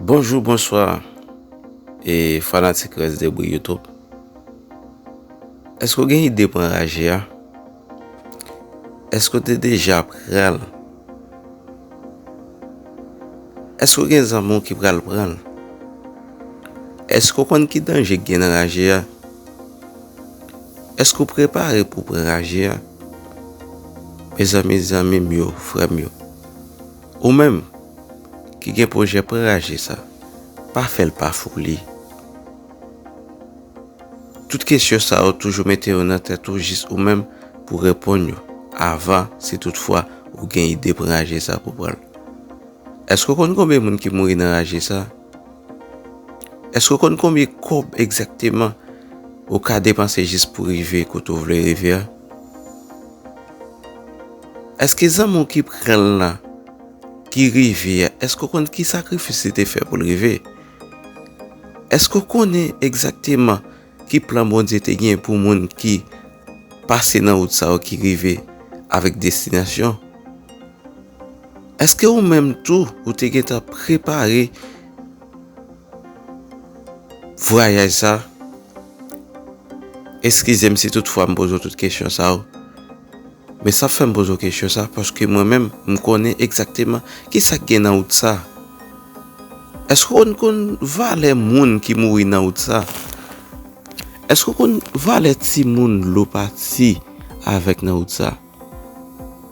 Bonjou bonswa e fanatik rès de bri youtube Eske w gen ide pou anraje a? Eske w te deja pran l? Eske w gen zanmi w ki pral pran l? Eske w konn ki danje ki gen nan raje a? Eske w prepare pou pran raje a? Mezanmi zanmi m yo frè m yo Ou menm ki gen pwojè pran raje sa pa fèl pa foli tout kesyon sa yo toujou mete yo nan tèt ou jis ou menm pou reponn yo avan si tout fwa ou gen ide pran raje sa pou pranl èske ou konn konbyen moun ki mouri nan raje sa èske ou konn konbyen kòb egzakteman ou ka depanse jis pou rive kote ou vle rive a. Eske zanmi w ki pran l lan ki rive a, eske w konn ki sakrifis li te fè pou l rive? Eske w konnen egzakteman ki plan Bondye te gen pou moun ki pase nan wout sa yo ki rive avèk destinasyon? Eske ou menm tou ou te gen tan prepare vwayaj sa? Eskize m si tout fwa m poze w tout kesyon sa yo. Men sa fè m poze w kesyon sa paske mwen menm m konnen egzakteman ki sa k gen nan wout sa. Èske w konn valè moun ki mouri nan wout sa? Èske w konn valè timoun dlo pati avèk nan wout sa?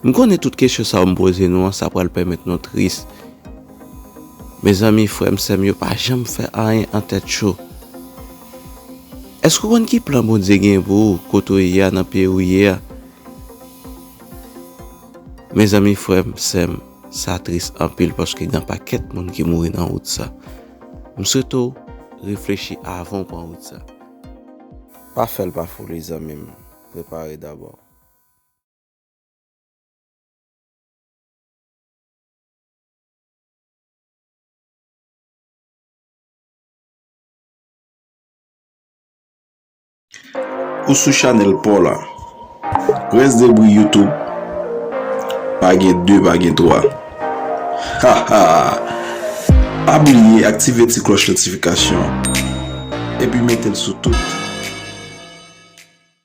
M konnen tout kesyon sa yo m poze nou an sa pral pèmèt nou tris. Mezanmi frè m sè m yo pa janm fè anyen an tèt cho. Èske w konn ki plan Bondye gen pou ou kote ou ye a nan peyi ou ye a? Mezanmi frè m, sè m, sa tris anpil paske gen anpakèt moun ki mouri nan wout sa. M swete w reflechi avan w pran wout sa. Pa fè l pa foli zanmi m, prepare dabò. Ou sou chanel paw la. Rès debri youtube pa gen 2 pa gen 3. Ha ha. Pa bliye aktive ti klòch notifikasyon epi metel sou tout.